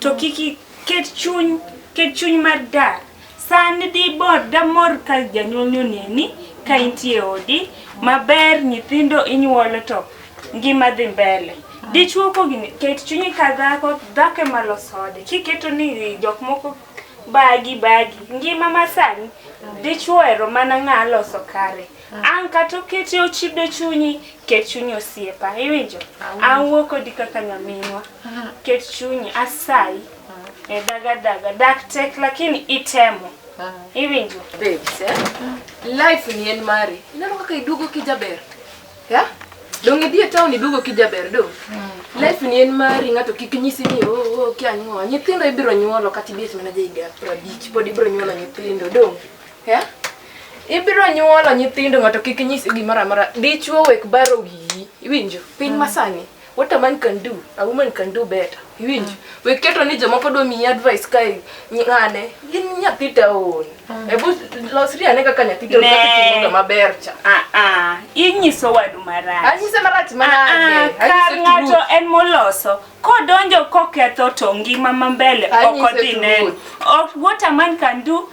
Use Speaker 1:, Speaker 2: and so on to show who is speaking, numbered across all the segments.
Speaker 1: To kik iket chuny, ket chuny mar dak. Sani dibor damor ka janyuolni oneni ka intie e odi maber, nyithindo inyuolo to ngima dhi mbele. Dichwo kogini, ket chunyi ka dhako, dhako ema loso ode. Kiketo ni jok moko bagi bagi, ngima masani dichwo ohero mana ng'a loso kare. An kata okete ochido chunyi, ket chunyi osiepa. Iwinjo? Awuo kodi kaka nyaminwa. Ket chunyi asayi. E daga daga, dak tek lakini itemo. Iwinjo? Babes, eh?
Speaker 2: Life ni en mari. Ineno kaka iduogo kijaber. Ya? Dong idhi e town iduogo kijaber do. Life ni en mari ng'ato kik nyisi ni oh oh kia nyuola. Nyithindo ibiro nyuolo kata ibet mana ja higa 50 pod ibiro nyuolo nyithindo do. Yeah? Ibiro nyuolo nyithindo ng'ato kik nyisi gimoro amora. Dichuo wek baro wiyi. Iwinjo? Piny mm. masani. What a man can do, a woman can do better. Iwinjo? Mm. Wek keto ni jomoko dwa miyi advice kae ng'ane. In nyathi taon. Mm. Ebu losri ane kaka nyathi taon kaka timoga maber cha. Ah ah. Inyiso
Speaker 1: wadu marach. Anyise marach manade. Ah,
Speaker 2: ah. Kar ng'ato
Speaker 1: en moloso. Kodonjo koketho to ngima mambele ok odhi neno. What a man can do,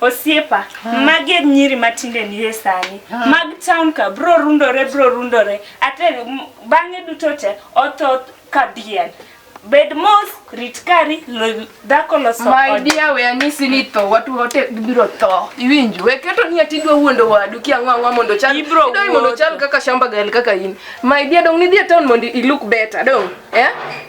Speaker 1: Osiepa, magi e nyiri matinde nie sani. Mag town ka bro rundore bro rundore. Ate m- bang'e duto te otho ka diel. Bed mos, rit kari, lo- dhako loso My ode. dear, we anyisi
Speaker 2: ni tho, watu wote gibiro tho. Iwinjo? We keto ni ati idwa wuondo wadu ki ang'o ang'o mondo chal. Ibiro Idwa ni mondo wuotho. chal kaka shamba gal kaka in. My dear, dong nidhi e town mondo i look better, dong. Eh?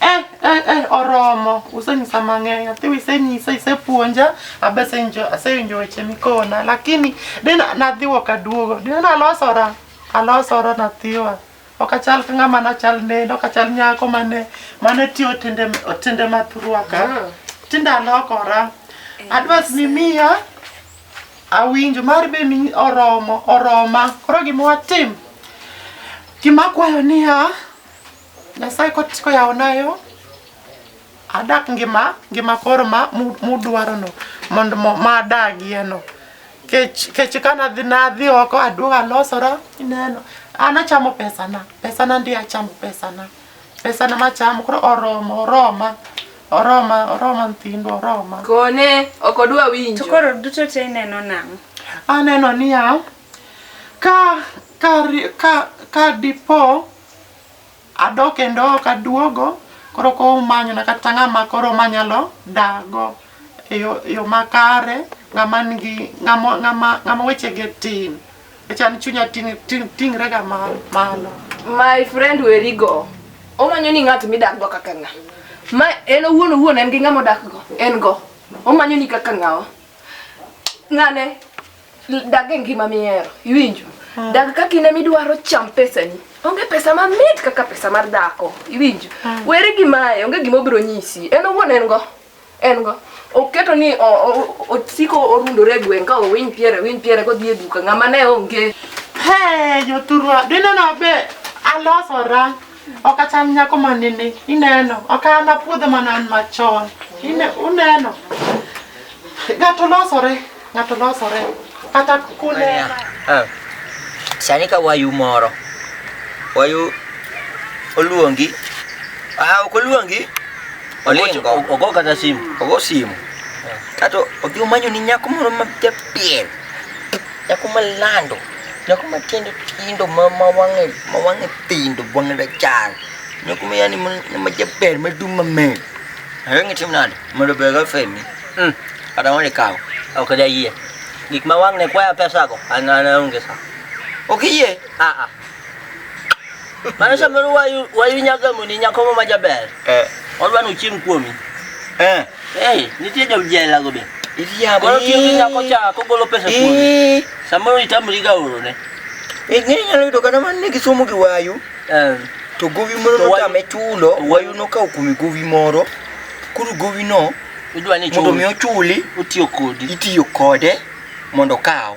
Speaker 2: Eh, eh, eh,
Speaker 3: oromo usenyisa mang'eny athiwa isenyisa isepuonja abesenjo asewinjo weche mikona lakini de na- nadhiwo kaduogo de nalosora alosora nathiwa ok achal ka ng'ama nachal nende ok achal nyako mane mane tiyo tinde tinde mathuruaka tinde alokora adwas mimiya awinjo mar be mi oromo oroma koro gima watim gima akwayo niya Nyasaye kot- koyawona yo adak ngima ngima koro ma mu- mudwarono mondo mo- ma adagieno kech kech ka nadhi nadhi oko aduog alosora ineno an achamo pesana pesana ndi achamo pesana pesana machamo koro oromo oroma oroma oroma nthindo oroma Kone ok
Speaker 2: odwa To winjo. koro duto te ineno
Speaker 1: nang'o? aneno niya
Speaker 3: ka ka ri- ka ka dipo Adok kendo ok aduogo, koro ka umanyona kata ng'ama koro manyalo dakgo e yo e yo makare, ng'ama nigi ng'ama ng'ama ng'ama wechege tin, nikech an chunya ting' ting' ting'rega ma malo. My friend
Speaker 2: weri go. Omanyo ni ng'at midak go kaka ng'a. Ma en owuon owuon en gi ng'ama odak go, en go. Omanyo ni kaka ng'awa. Ng'ane, Dag e ngima mihero, iwinjo? Ah. Dag kaka in emidwaro cham pesani. Onge pesa mamit kaka pesa mar dhako, iwinjo? Ah. Weri gi mae, onge gima obiro nyisi. En owuon en go. En go. Oketo ni osiko orundore e gweng' ka owiny piere, owiny piere kodhi e duka. Ng'ama ne onge. Hey,
Speaker 3: joturwa, dineno be alosora. Ok acham nyako ma nini, ineno. Ok an apuodhe mana an machon. Ine- Uneno. Ng'ato losore, ng'ato losore. Kata kunena.
Speaker 4: Ah. Sani ka wayu moro, wayu oluongi, ah, ok oluongi, olingo, Ogo kata simu. ogo simu, kato odhi omanyo ni nyako moro ma japiel, Nyako malando, nyako matiende tindo ma ma wang'e ma wang'e tindo wang'e rachar. Nyako ma yani ma- ma jaber ma dum mamer. Ayo ng'e tim nade? Mondo be ga femi. Mm. Kata mondo ikaw. Ok da yie. Gik ma wang' ne kwaya pesago, an an aonge sa. Ok iyie? Ah ah. Mano samoro wayu wayu nyagamoni nyako ma jaber. Eh. Odwa ni ochiem kuomi. Eh. Eh, nitie ja uji aila go be. Iriambo. Koro tiyo gi
Speaker 3: nyako cha
Speaker 4: kogolo pesa kuome. Eh. Samoro itamri ga oro ne. Eh, ng'e nyalo
Speaker 3: yudo kata man ne gisomo gi wayu. Eh. To gowi moro notame chulo, wayu nokawo kuome gowi moro. Koro gowi no, mondo mi
Speaker 4: ochuli,
Speaker 3: itiyo kode mondo okaw.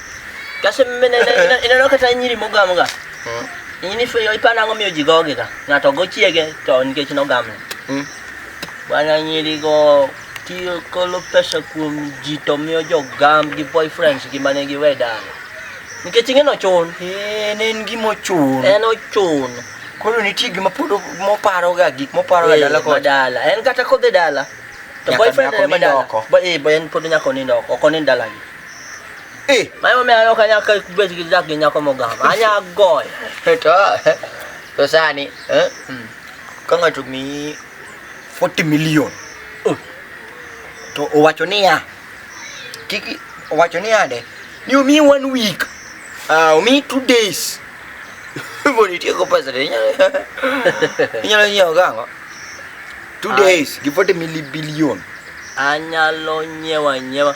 Speaker 3: Kasi mene
Speaker 4: ineno kata nyiri mogam ga. Mm. Nyiri fe yo ipana ngo miyo jigoge ga. Ngato go chiege to nikech no gamne. Mm. Bwana nyiri go tiyo kolo pesa kuom ji to miyo jo gam gi boyfriends gi mane gi weda. Nikech ing'e no chun. Eh, ne en gimo
Speaker 3: chun. En ochun.
Speaker 4: Koro nitie
Speaker 3: gima pod moparo ga gik moparo ga dala ko dala. En kata kodhi
Speaker 4: dala. To boyfriend ne madala. Ba eh, ba en pod nyako ni ndoko. Okoni ndala gi. Mayo me ayo kanya ka bet gi dak gi nyako mogam. Anya goy. To
Speaker 3: to sani eh hmm. ka ng'ato mi 40 million oh. to owacho niya kik owacho niya de ni omi one week uh, omi two days mondo itieko pesa de inyalo nyiewo gang'o two days gi 40 million anyalo
Speaker 4: nyiewo anyiewa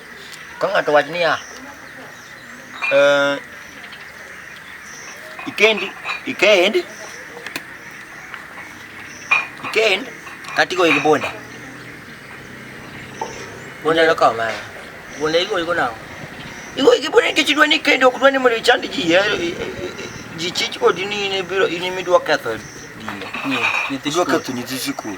Speaker 3: Ka ng'ato wach niya, eh, ikendi ikend ikend kata igoyi gi bunde
Speaker 4: bunde nokawo mara bunde igoyi go nang'o igoyi gi
Speaker 3: bunde nikech idwa ni ikendi ok dwa ni mondo ichand ji eh, eh, ji chich kodi ni in ibiro in imidwa ketho dine Nyi- nyithi idwa skul. ketho nyithi sikul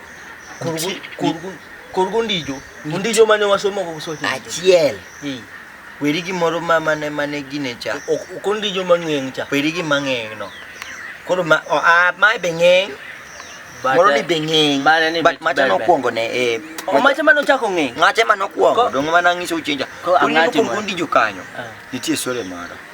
Speaker 4: Korgo ondijo. Ondijo mane wasomo kok sote. Achiel.
Speaker 3: Weri gimoro ma mane mane gine cha. Ok ondijo mang'eng
Speaker 4: cha. Weri gi mang'eng no.
Speaker 3: Koro ma o a ma be ng'eng. Moro ni be ng'eng. But macha nokwongo ne e. O macha mane ochako
Speaker 4: ng'eng. Macha mane okwongo.
Speaker 3: Donge mana ngiso uchenja. Koro ondijo
Speaker 4: kanyo.
Speaker 3: Nitie sore moro.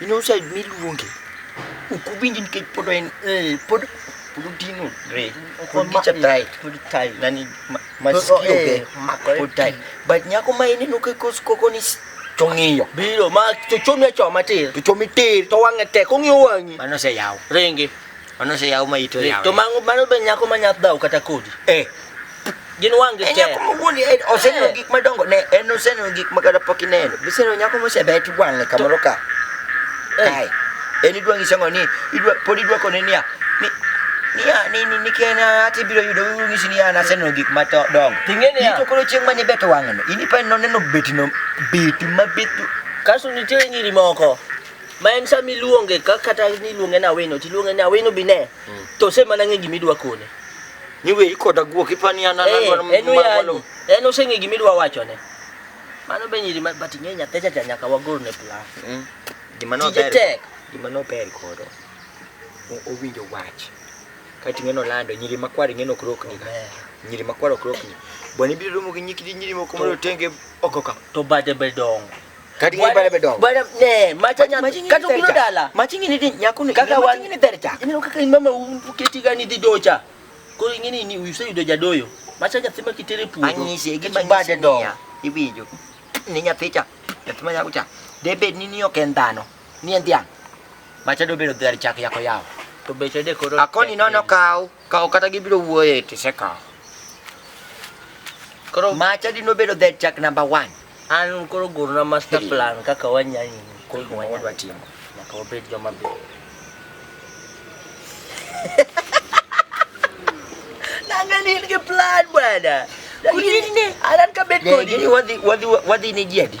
Speaker 3: in outside miluonge ok uwinji nikech pod en eh, pod pod odino re pod gicha tight pod tight nani ma- masikio eh, be makore pod tight but nyako ma ineno ka kos koko ni s- chong'iyo biro ma to
Speaker 4: chome choma tir to chomi tir to wang'e
Speaker 3: tek ong'iyo
Speaker 4: wang'i mano se yaw ringi
Speaker 3: Mano
Speaker 4: se yaw ma
Speaker 3: ito yaw. To mango mano be nyako
Speaker 4: ma nyath dhaw kata kodi. Eh. Gin wang'e te. Nyako ma wuon eh, oseneno
Speaker 3: eh. gik madongo ne en oseneno gik ma kata pok ineno. Biseneno nyako ma osebet wang'e kamoro ka. Eh. Kae. En idwa ng'ise ngo ni idwa pod idwa kone niya ni niya ni ni ni kena ati biro yudo uru ng'isi niya na seneno gik ma dongo. Ting'e niya. Ito koro chieng'
Speaker 4: ma ni bet wang'e
Speaker 3: no. Ini pa noneno betino beti ma betu. Kaso nitie
Speaker 4: nyiri moko. ma en sama iluonge ka kata niluonge ni awino tiluonge ni awino bi ne mm. to osemana ng'e gima idwa kone ni we
Speaker 3: ikoda guok ipani an eh,
Speaker 4: en oseng'e gima idwa wachone mano be nyiri but ing'e nyathecha cha nyaka wagol ne plan mm. gima nober gima nober kodo
Speaker 3: owinjo wach kati ng'eno lando nyiri makwar ing'eno ok rokni nyiri makwar ok rokni bwana ibiro romo gi nyikidi nyiri moko mondo otenge oko ka to bade be
Speaker 4: dongo kati ngi bale
Speaker 3: bedong bale ne macha nya
Speaker 4: kati kuno dala machi ngi ni nyakuni
Speaker 3: kaka wan ngi ni dercha ini
Speaker 4: kaka
Speaker 3: ni mama umpu
Speaker 4: keti gani di docha ko ngi ni ni uise yudo jadoyo macha nya thima kitere pudo anyi se gi bade
Speaker 3: do ibijo ni nya thicha thima nya kucha debed ni ni okendano ni endia macha do bedo dercha yako yao to beche de koro
Speaker 4: akoni nono kaw
Speaker 3: Kawo kata gibiro wuoye to isekawo.
Speaker 4: Koro ma chadi nobedo that
Speaker 3: chak number one. An koro
Speaker 4: gurna master plan kaka wanyani koro wadwa timo.
Speaker 3: Nyaka wabed joma
Speaker 4: beyo. Nangani in gi plan bwana. Kudine. Anan ka bet kodi. Wadhi wadhi
Speaker 3: wadhi ne jiadi.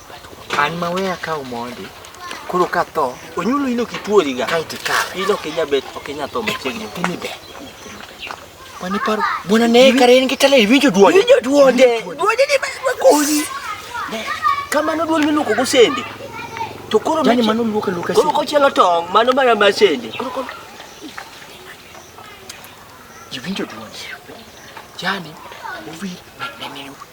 Speaker 3: An ma weya ka omondi. Koro ka tho, onyulo ino kituori
Speaker 4: ga. Kae tikawe. Ino kinya
Speaker 3: bet, okinya
Speaker 4: tho machiegni. Ini be.
Speaker 3: Mani paro. Bwana ne kare en kitale iwinjo duonde. Iwinjo duonde. Duonde
Speaker 4: ni ma koni. Kamano duol miluko go sende. To koro mani mano luka luka. Koro
Speaker 3: kochielo tong,
Speaker 4: mano mana ma sende. Koro koro.
Speaker 3: Iwinjo duonde. Jani, owir.